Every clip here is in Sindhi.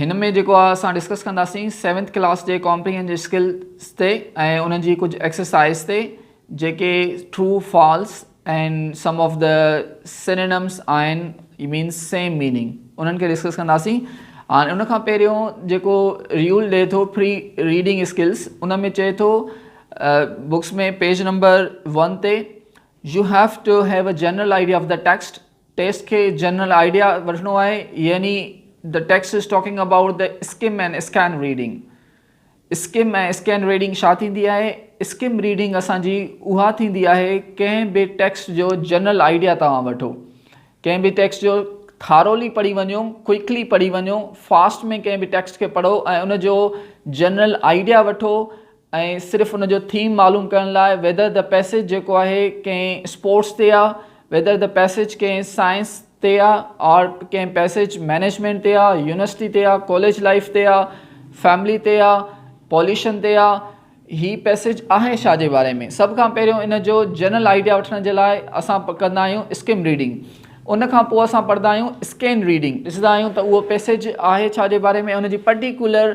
هن ۾ جيڪو آ اسان ڊسڪس ڪنداسين سيونٿ ڪلاس جي ڪامپريهنج اسڪلز تي ۽ انهن جي ڪجهه ايڪسرسائز تي جيڪي true false ۽ some of the synonyms آهن اي مينس سيم ميننگ انهن کي ڊسڪس ڪنداسين هاڻي ان کان پهريون جيڪو ريول ڏي ٿو فري ريڊنگ اسڪلس ان ۾ چئي ٿو بڪس ۾ پيج نمبر ون تي you have to have a general idea of the text text کي جنرل آئيڊيا وٺڻو آهي يعني The text is talking about the skim and scan reading. Skim ۽ scan reading ڇا ٿيندي آهي اسڪم ريڊنگ اسان جي اها ٿيندي آهي ڪنهن به ٽيڪسٽ جو جنرل آئيڊيا توهان وٺو ڪنهن به ٽيڪسٽ جو ٿارولي پڙهي وڃو ڪوئڪلي پڙهي وڃو فاسٽ ۾ ڪنهن به ٽيڪسٽ کي پڙهو ۽ ان جو جنرل آئيڊيا وٺو ۽ صرف ان جو ٿيم معلوم ڪرڻ لاء ويدر دي پيسيج جيڪو آهي ڪنهن اسپورٽس تي آ ويدر دي پيسيج ڪنهن سائنس تي آ آرٽ ڪنهن پيسيج مينيجمينٽ تي آ يونيورسٽي تي آ ڪاليج لائيف تي آ فيملي تي آ پوليشن تي آ هي پيسيج آهي ڇا جي باري ۾ سڀ کان پهريون ان جو جنرل آئيڊيا وٺڻ جي لاء اسان ڪندا آهيون اسڪم ريڊنگ ان کان پوء اسان پڙهندا آهيون اسڪين ريڊنگ ڏسندا آهيون ته اهو پيسيج آهي ڇا جي باري ۾ ان جي پرٽيڪولر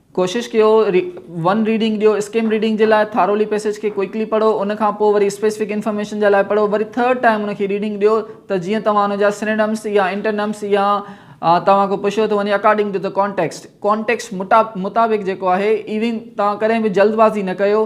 ڪوشش ڪيو ون ريڊنگ ڏيو اسڪيم ريڊنگ جي لاء ٿارولي پيسيج کي ڪوئڪلي پڙهو ان کان پوء وري اسپيسفڪ انفارميشن جي لاء پڙهو وري ٿرڊ ٽائيم ان کي ريڊنگ ڏيو ته جيئن توهان ان جا سنيڊمس يا انٽرنمس يا توهان کي پڇيو ٿو وڃي اڪارڊنگ ٽو ته ڪانٽيڪسٽ ڪانٽيڪسٽ مطابق جيڪو آهي ايون توهان ڪڏهن به جلدبازي نه ڪيو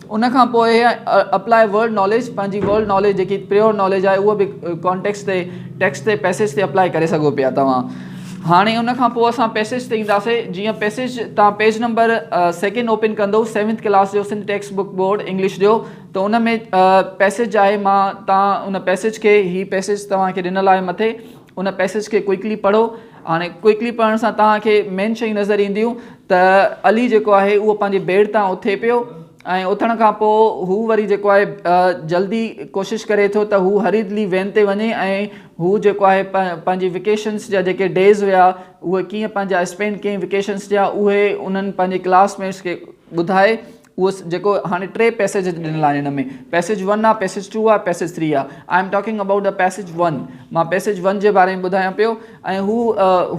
ان کان پوء اپلائي ورڊ ناليج پنهنجي ورڊ ناليج جيڪي پريور ناليج آهي اهو به ڪانٽيڪس تي ٽيڪس تي پيسيج تي اپلائي ڪري سگهو پيا توهان هاڻي ان کان پوء اسان پيسيج تي اينداسي جيئن پيسيج تان پيج نمبر سيڪنڊ اوپن ڪندو سيونٿ ڪلاس جو Sindh text book board English جو ته ان ۾ پيسيج آهي مان تان ان پيسيج کي هي پيسيج توهان کي ڏنل آهي مٿي ان پئسيج کي ڪوئڪلي پڙهو هاڻي ڪوئڪلي پڙهڻ سان توهان کي مين شيون نظر اينديون ته علي جيڪو آهي اهو پنهنجي بيڊ تان اٿي پيو ۽ اٿڻ کان پوء هو وري جيڪو آهي جلدي ڪوشش ڪري ٿو ته هو هري دلي وين تي وڃي ۽ هو جيڪو آهي پنهنجي وڪيشنس جا جيڪي ڊيز هيا اهي ڪيئن پنهنجا اسپينڊ ڪيئن وڪيشنس جا اهي انهن پنهنجي ڪلاس ميٽس کي ٻڌائي اهو جيڪو هاڻي ٽي پيسيج ڏنل آهن هن ۾ پيسيج ون آهي پيسيج ٽو آهي پيسيج ٿري آهي I am talking about the passage one مان پيسيج ون جي باري ۾ ٻڌايان پيو ۽ هو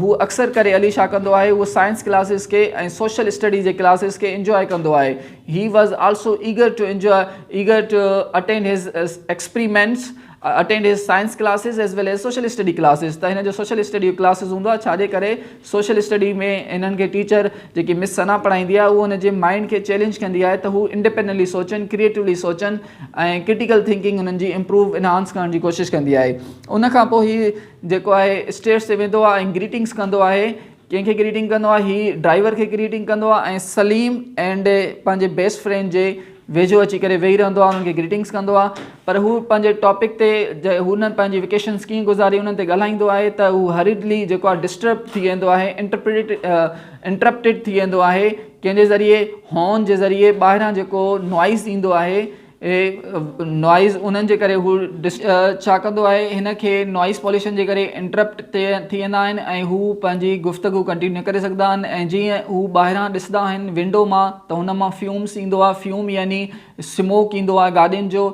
هو اڪثر ڪري علي شاهه ڪندو آهي هو سائنس ڪلاسز کي ۽ سوشل اسٽڊي جي ڪلاسز کي انجوائي ڪندو آهي he was also eager to enjoy eager to attend his experiments I attend his science classes as well as social study classes ته هن جو سوشل اسٽڊي جو ڪلاسز هوندو آهي ڇا جي ڪري سوشل اسٽڊي ۾ هنن کي ٽيچر جيڪي مس ثنا پڙهائيندي آهي اهو هن جي مائنڊ کي چيلينج ڪندي آهي ته هو انڊيپينڊنٽلي سوچن ڪريئيٽولي سوچن ۽ ڪرٽيڪل ٿنڪنگ هنن جي امپروو انهانس ڪرڻ جي ڪوشش ڪندي آهي ان کان پوء هي جيڪو آهي اسٽيئرس تي ويندو آهي ۽ گريٽنگس ڪندو آهي ڪنهن کي گريٽنگ ڪندو آهي هي ڊرائيور کي گريٽنگ ڪندو آهي ۽ سليم اينڊ پنهنجي بيسٽ فرينڊ جي ويجهو اچي ڪري ويهي رهندو آهي انهن کي گريٽنگس ڪندو آهي پر هو پنهنجي ٽاپڪ تي هن پنهنجي ويڪيشنس ڪيئن گذاري انهن تي ڳالهائيندو آهي ته هو هريڊلي جيڪو آهي ڊسٽرب ٿي ويندو آهي انٽرپريٽ انٽرپٽيڊ ٿي ويندو آهي ڪنهن جي ذريعي هارن جي ذريعي ٻاهران جيڪو نوائز ايندو آهي اهي نوائيز انهن جي ڪري هو ڇا ڪندو آهي هن کي نوائيز پوليشن جي ڪري انٽرپٽ تي ٿي ويندا آهن ۽ هو پنهنجي گفتگو ڪنٽينيو نه ڪري سگهندا آهن ۽ جيئن هو ٻاهران ڏسندا آهن ونڊو مان ته هن مان فيومس ايندو آهي فيوم يعني سموڪ ايندو آهي گاڏين جو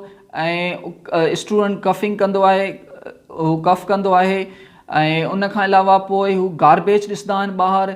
۽ اسٽوڊنٽ ڪفنگ ڪندو آهي هو ڪف ڪندو آهي ۽ ان کان علاوه پوء هو گاربيج ڏسندا آهن ٻاهر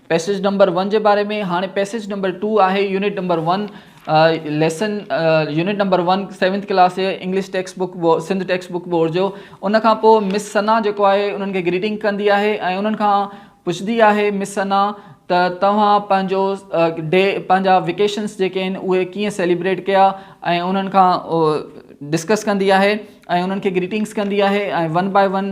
پئسيج نمبر ون جي باري ۾ هاڻي پئسيج نمبر ٽو آهي unit number one lesson unit number one seventh class English text book Sindh text book board جو ان کان پوء مس سنا جيڪو آهي انهن کي گريٽنگ ڪندي آهي ۽ انهن کان پڇندي آهي مس سنا ته توهان پنهنجو ڊي پنهنجا ويڪيشنس جيڪي آهن اهي ڪيئن سيليبريٽ ڪيا ۽ انهن کان ڊسڪس ڪندي آهي ۽ انهن کي گريٽنگس ڪندي آهي ۽ ون باء ون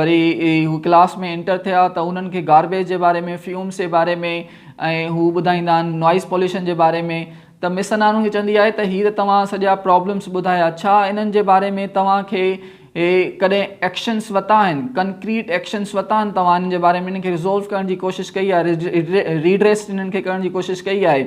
وري هو ڪلاس ۾ انٽر ٿيا ته انهن کي گاربيج جي باري ۾ فيومس جي باري ۾ ۽ هو ٻڌائيندا آهن نوائيز پوليوشن جي باري ۾ ته مس انهن کي چوندي آهي ته هي ته توهان سڄا پرابلمس ٻڌايا ڇا انهن جي باري ۾ توهان کي ڪڏهن ايڪشنس وتا آهن ڪنڪريٽ ايڪشنس وتا آهن توهان انهن جي باري ۾ انهن کي ريزولو ڪرڻ جي ڪوشش ڪئي آهي ريڊريس انهن کي ڪرڻ جي ڪوشش ڪئي آهي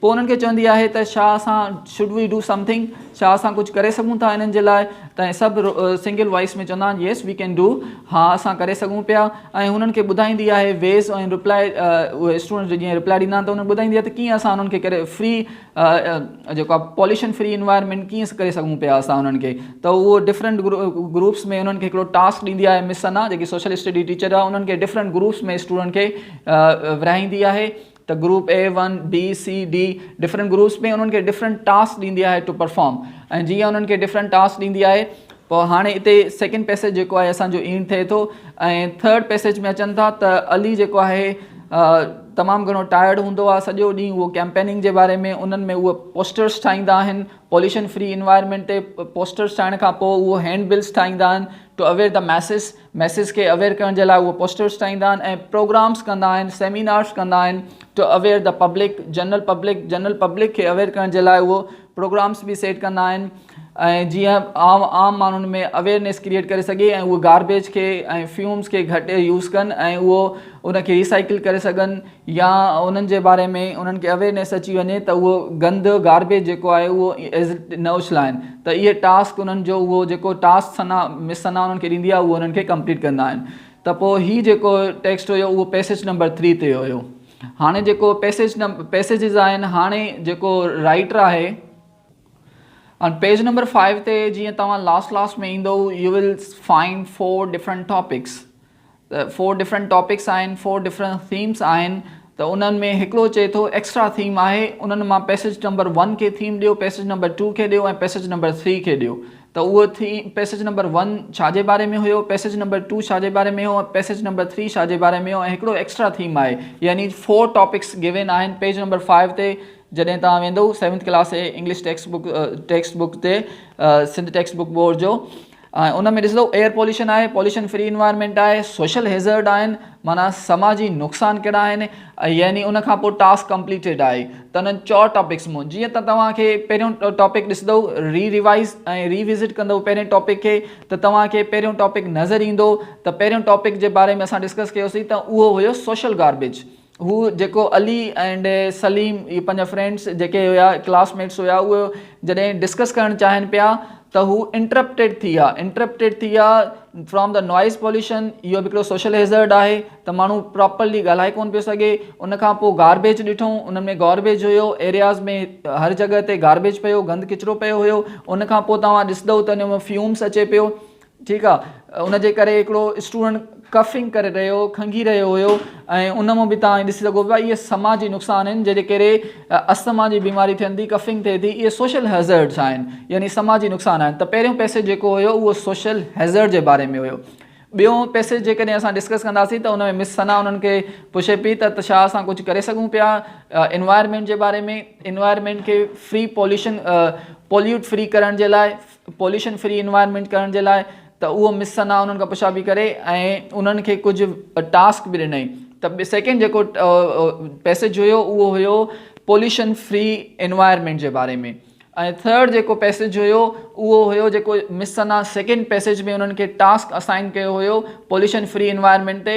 پوء انهن کي چوندي آهي ته ڇا اسان Should we do something؟ ڇا اسان ڪجهه ڪري سگهون ٿا انهن جي لاء؟ ته ۽ سڀ سنگل وائيس ۾ چوندا آهن Yes we can do ها اسان ڪري سگهون پيا ۽ هنن کي ٻڌائيندي آهي ويز ۽ رپلاء اهي اسٽوڊنٽس جيئن رپلاء ڏيندا آهن ته انهن ٻڌائيندي آهي ته ڪيئن اسان انهن کي ڪري فري جيڪو آهي پوليشن فري انوائرمينٽ ڪيئن ڪري سگهون پيا اسان انهن کي ته اهو ڊفرنٽ گروپس ۾ انهن کي هڪڙو ٽاسڪ ڏيندي آهي مس ثنا جيڪي سوشل اسٽڊي ٽيچر آهي انهن کي ڊفرنٽ گروپس ۾ اسٽوڊنٽ کي ورهائيندي آهي ته group A one B C D different groups ۾ انهن کي ڊفرنٽ ٽاسڪ ڏيندي آهي ٽو پرفارم ۽ جيئن انهن کي ڊفرنٽ ٽاسڪ ڏيندي آهي پوء هاڻي اتي سيڪنڊ پيسيج جيڪو آهي اسانجو اينڊ ٿئي ٿو ۽ ٿرڊ پيسيج ۾ اچن ٿا ته علي جيڪو آهي تمام گهڻو ٽائرڊ هوندو آهي سڄو ڏينهن اهو ڪيمپيننگ جي باري ۾ انهن ۾ اهو پوسٽرس ٺاهيندا آهن پوليشن فري انوائرمينٽ تي پوسٽرس ٺاهڻ کان پوء اهو هينڊ بلس ٺاهيندا آهن to aware the masses masses کي اويئر ڪرڻ جي لاء اهي پوسٽرز ٺاهيندا آهن ۽ پروگرامز ڪندا آهن سيمينارز ڪندا آهن to aware the public general public general public کي اويئر ڪرڻ جي لاء اهي پروگرامز به سيٽ ڪندا آهن ۽ جيئن عام عام ماڻهن ۾ اويئرنيس ڪريئيٽ ڪري سگهي ۽ اهي گاربيج کي ۽ فيومز کي گهٽ يوز ڪن ۽ اهو ان کي ريسائيڪل ڪري سگهن يا انهن جي باري ۾ انهن کي اويرنيس اچي وڃي ته اهو گند گاربيج جيڪو آهي اهو ايز اٽ نه اڇلائن ته اهي ٽاسڪ انهن جو اهو جيڪو ٽاسڪ ثنا مس ثنا انهن کي ڏيندي آهي اهو انهن کي ڪمپليٽ ڪندا آهن ته پوء هي جيڪو ٽيڪسٽ هيو اهو پيسيج نمبر ٿري تي هيو هاڻي جيڪو پيسيج پيسيجز آهن هاڻي جيڪو رائٽر آهي And page number 5 تي جيئن توهان لاس لاس ۾ ايندو you will find four different topics ته فور ڊفرنٽ ٽاپڪس آهن فور ڊفرنٽ ٿيمس آهن ته انهن ۾ هڪڙو چئي ٿو ايڪسٽرا ٿيم آهي انهن مان پئسيج نمبر ون کي ٿيم ڏيو پئسيج نمبر ٽو کي ڏيو ۽ پئسيج نمبر ٿري کي ڏيو ته اهو ٿيم پئسيج نمبر ون ڇا جي باري ۾ هيو پئسيج نمبر ٽو ڇا جي باري ۾ هيو ۽ پئسيج نمبر ٿري ڇا جي باري ۾ هيو ۽ هڪڙو ايڪسٽرا ٿيم آهي يعني فور ٽاپڪس گيون آهن پيج نمبر فائيو تي جڏهن توهان ويندو سيونٿ ڪلاس جي English text book text book تي سنڌ ٽيڪسٽ بڪ بورڊ جو ۽ ان ۾ ڏسندو ايئر پوليوشن آهي، پوليوشن فري انوائرمينٽ آهي، سوشل هيزرڊ آهن معنيٰ سماجي نقصان ڪهڙا آهن يعني ان کان پوء ٽاسڪ ڪمپليٽيڊ آهي ته انهن چار ٽاپڪس مون جيئن ته توهان کي پهريون ٽاپڪ ڏسندو ري ريوائز ۽ ري وزٽ ڪندو پهرين ٽاپڪ کي ته توهان کي پهريون ٽاپڪ نظر ايندو ته پهريون ٽاپڪ جي باري ۾ اسان ڊسڪس ڪيوسين ته اهو هيو سوشل گاربيج هو جيڪو علي ائنڊ سليم اهي پنهنجا فرينڊس جيڪي هيا ڪلاس ميٽس هيا اهي جڏهن ڊسڪس ڪرڻ چاهين پيا ته هو انٽرپٽيڊ ٿي ويا انٽرپٽيڊ ٿي ويا فرام دا نوائز پوليوشن اهو به هڪڙو سوشل هيزرڊ آهي ته ماڻهو پراپرلي ڳالهائي ڪون پيو سگهي ان کان پوء گاربيج ڏٺون ان ۾ گاربيج هيو ايرياز ۾ هر جڳهه تي گاربيج پيو گند ڪچرو پيو هيو ان کان پوء توهان ڏسندو ته ان ۾ فيومس اچي پيو ٺيڪ آ ان جي ڪري هڪڙو اسٽوڊنٽ ڪفنگ ڪري رهيو کنگهي رهيو هيو ۽ ان مان به توهان ڏسي سگهو پيا اهي سماجي نقصان آهن جنهن جي ڪري اسما جي بيماري ٿين ٿي ڪفنگ ٿئي ٿي اهي سوشل هيزرڊس آهن يعني سماجي نقصان آهن ته پهريون پيسج جيڪو هيو اهو سوشل هيزرڊ جي باري ۾ هيو ٻيو پيسج جيڪڏهن اسان ڊسڪس ڪنداسين ته ان ۾ مس ثنا انهن کي پڇي پئي ته ڇا اسان ڪجهه ڪري سگهون پيا انوائرمينٽ جي باري ۾ انوائرمينٽ کي فري پوليوشن پوليوٽ فري ڪرڻ جي لاء پوليوشن فري انوائرمينٽ ڪرڻ جي لاء ته اهو مس سنا انهن کان پڇا پئي ڪري ۽ انهن کي ڪجهه ٽاسڪ به ڏنائين ته سيڪنڊ جيڪو پيسج هيو اهو هيو پوليوشن فري انوائرمينٽ جي باري ۾ ۽ ٿرڊ جيڪو پيسج هيو اهو هيو جيڪو مس سنا سيڪنڊ پيسج ۾ انهن کي ٽاسڪ اسائن ڪيو هيو پوليوشن فري انوائرمينٽ تي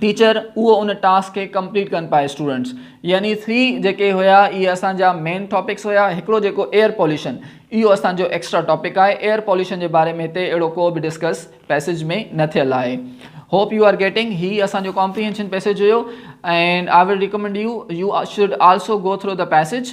ٽيچر اهو ان ٽاسڪ کي ڪمپليٽ ڪن پائي اسٽوڊنٽس يعني ٿري جيڪي هيا اهي اسان جا مين ٽاپڪس هيا هڪڙو جيڪو ايئر پوليوشن اهو اسان جو ايڪسٽرا ٽاپڪ آهي ايئر پوليوشن جي باري ۾ هتي اهڙو ڪو به ڊسڪس پيسيج ۾ نه ٿيل آهي هوپ يو آر گيٽنگ هي اسان جو comprehension passage here and I will recommend you you should also go through the passage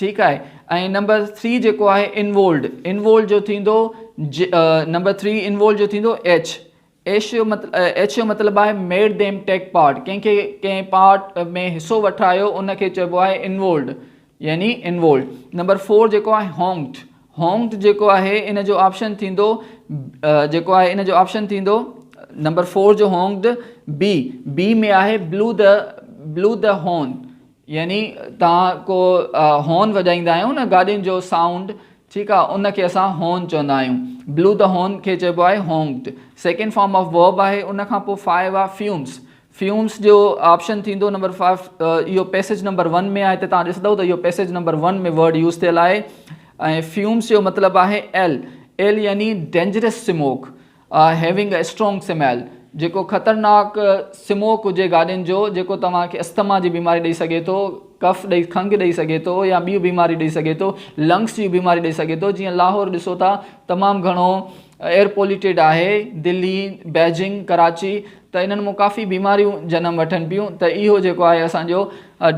ٺيڪ آهي ۽ نمبر ٿري جيڪو آهي انوولڊ انوولڊ جو ٿيندو نمبر ٿري انوولڊ جو ٿيندو ايڇ ايش جو مطلب ايڇ جو مطلب آهي ميڊ ديم ٽيڪ پارٽ ڪنهن کي ڪنهن پارٽ ۾ حصو وٺايو ان کي چئبو آهي انوولڊ يعني انوولڈ نمبر فور جيڪو آهي هونگٽ هونگٽ جيڪو آهي ان جو آپشن ٿيندو جيڪو آهي ان جو آپشن ٿيندو نمبر فور جو هونگٽ بي بي ۾ آهي بلو د بلو د هون يعني توهان ڪو هارن وڄائيندا آهيو نه گاڏين جو سائونڊ ٺيڪ آهي ان کي اسان هارن چوندا آهيون بلو ته هارن کي چئبو آهي هونڪٽ سيڪنڊ فارم آف ورب آهي ان کان پوء فائيو آهي فيومس فيومس جو آپشن ٿيندو نمبر فائيو اهو پيسيج نمبر ون ۾ آهي هتي توهان ڏسندو ته اهو passage number one ۾ word use ٿيل آهي ۽ فيومس جو مطلب آهي ايل ايل يعني dangerous smoke Having a strong smell جيڪو خطرناڪ سموڪ هجي گاڏين جو جيڪو توهان کي اسٿما جي بيماري ڏئي سگهي ٿو، ڪف ڏئي کنگهه ڏئي سگهي ٿو يا ٻيون بيماريون ڏئي سگهي ٿو، لنگس جون بيماريون ڏئي سگهي ٿو جيئن لاهور ڏسو ٿا تمام گهڻو ايئر پوليوٽيڊ آهي دلي، بيجنگ، ڪراچي. ته انهن مان ڪافي بيماريون جنم وٺن پيون ته اهو جيڪو آهي اسان جو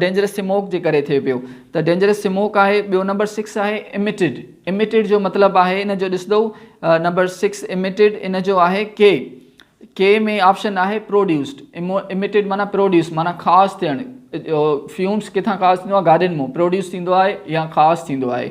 ڊينجرس سموڪ جي ڪري ٿئي پيو ته ڊينجرس سموڪ آهي ٻيو نمبر سڪس آهي اميٽيڊ اميٽيڊ جو مطلب آهي ان جو ڏسندو نمبر سڪس اميٽيڊ ان جو آهي ڪي ڪي ۾ آپشن آهي پروڊيوسڊ اميٽيڊ معنی پروڊيوس معنی خاص ٿيڻ فيومس ڪٿان خاص ٿيندو آهي گاڏين مون پروڊيوس ٿيندو آهي يا خاص ٿيندو آهي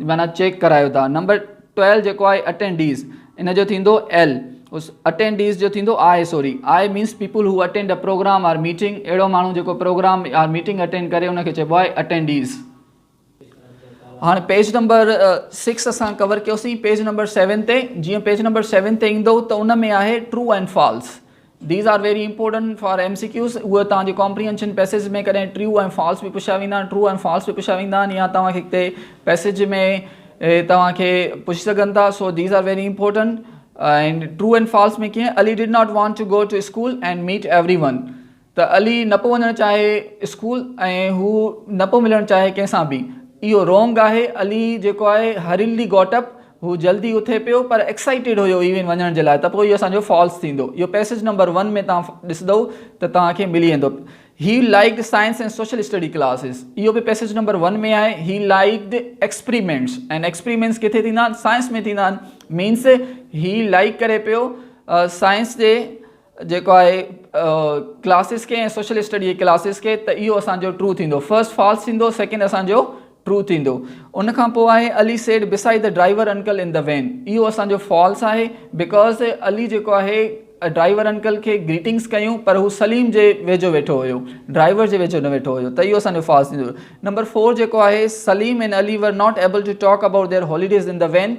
معنيٰ چيڪ ڪرايو ٿا. نمبر ٽويلو جيڪو آهي اٽينڊيز ان جو ٿيندو ايل اس اٽينڊيز جو ٿيندو I sorry I means people who attend a program or meeting اهڙو ماڻهو جيڪو پروگرام آر ميٽنگ اٽينڊ ڪري ان کي چئبو آهي اٽينڊيز. هاڻي پيج نمبر سڪس اسان ڪور ڪيوسين پيج نمبر سيون تي جيئن پيج نمبر سيون تي ايندو ته ان ۾ آهي true and false These are very important for MCQs اهي توهان جي ڪامپريهنشن پئسيج ۾ ڪڏهن ٽريو ۽ فالس به پڇيا ويندا آهن ٽرو ۽ فالس به پڇيا ويندا آهن يا توهان کي ڪٿي پئسيج ۾ توهان کي پڇي سگهن ٿا so these are very important and true and false ۾ ڪيئن Ali did not want to go to school and meet everyone ته علي نه پيو وڃڻ چاهي اسڪول ۽ هو نه پيو ملڻ چاهي ڪنهن سان به اهو رونگ آهي علي جيڪو آهي هرلي گوٽ اپ هو جلدي اٿي پيو پر ايڪسائيٽيڊ هيو ايون وڃڻ جي لاء ته پوء اهو اسان جو فالس ٿيندو. اهو پيسيج نمبر ون ۾ توهان ڏسدئو ته توهان کي ملي ويندو. He liked science and social study classes اهو به پيسيج نمبر ون ۾ آهي. He liked experiments and experiments ڪٿي ٿيندا آهن سائنس ۾ ٿيندا آهن مينس هي لائيڪ ڪري پيو سائنس جي جيڪو آهي ڪلاسز کي ۽ سوشل اسٽڊي جي ڪلاسز کي ته اهو اسانجو ٽرو ٿيندو فرسٽ فالس ٿيندو سيڪنڊ اسانجو ٽرو ٿيندو ان کان پوء آهي علي سيڊ بسائي ته ڊرائيور انڪل ان ته وين اهو اسانجو فالس آهي بيڪاز علي جيڪو آهي ڊرائيور انڪل کي گريٽنگس ڪيون پر هو سليم جي ويجهو ويٺو هيو ڊرائيور جي ويجهو نه ويٺو هيو ته اهو اسانجو فالس ٿيندو نمبر فور جيڪو آهي Saleem and Ali were not able to talk about their holidays ان ته وين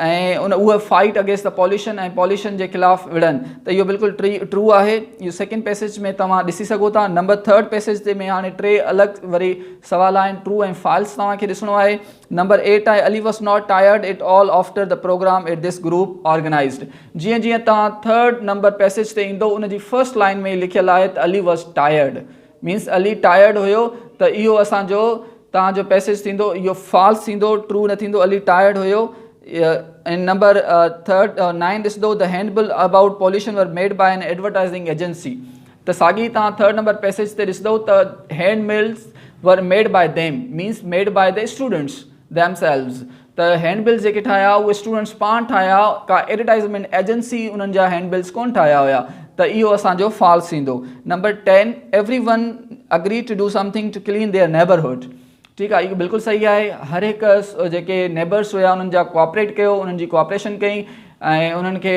۽ ان اهو fight against the pollution ۽ pollution جي خلاف وڙهن ته اهو بلڪل ٽرو آهي اهو سيڪنڊ پيسيج ۾ توهان ڏسي سگهو ٿا نمبر ٿرڊ پيسيج تي ۾ هاڻي ٽي الڳ وري سوال آهن ٽرو ۽ فالس توهان کي ڏسڻو آهي نمبر ايٽ آهي Ali was not tired at all after the program at this group organized جيئن جيئن توهان ٿرڊ نمبر پيسيج تي ايندو ان جي فرسٽ لائن ۾ لکيل آهي ته Ali was tired means Ali tired هيو ته اهو اسان جو توهان جو پيسيج ٿيندو اهو فالس ٿيندو ٽرو نه ٿيندو علي ٽائرڊ هيو ان نمبر ٿرڊ نائن ڏسندو ته hand bill about pollution were made by an advertising agency ته ساڳي توهان ٿرڊ نمبر پيسيج تي ڏسندو ته hand bills were made by them means made by the students themselves ته هينڊ بلز جيڪي ٺاهيا اهي اسٽوڊنٽس پاڻ ٺاهيا ڪا ايڊورٽائزمينٽ ايجنسي انهن جا هينڊ بلز ڪونه ٺاهيا هيا ته اهو اسان جو فالس ٿيندو number ten everyone agree to do something to clean their neighbourhood ٺيڪ آهي اهو بلڪل صحيح آهي هر هڪ جيڪي نيبرس هيا انهن جا ڪوآپريٽ ڪيو انهن جي ڪوآپريشن ڪئي ۽ انهن کي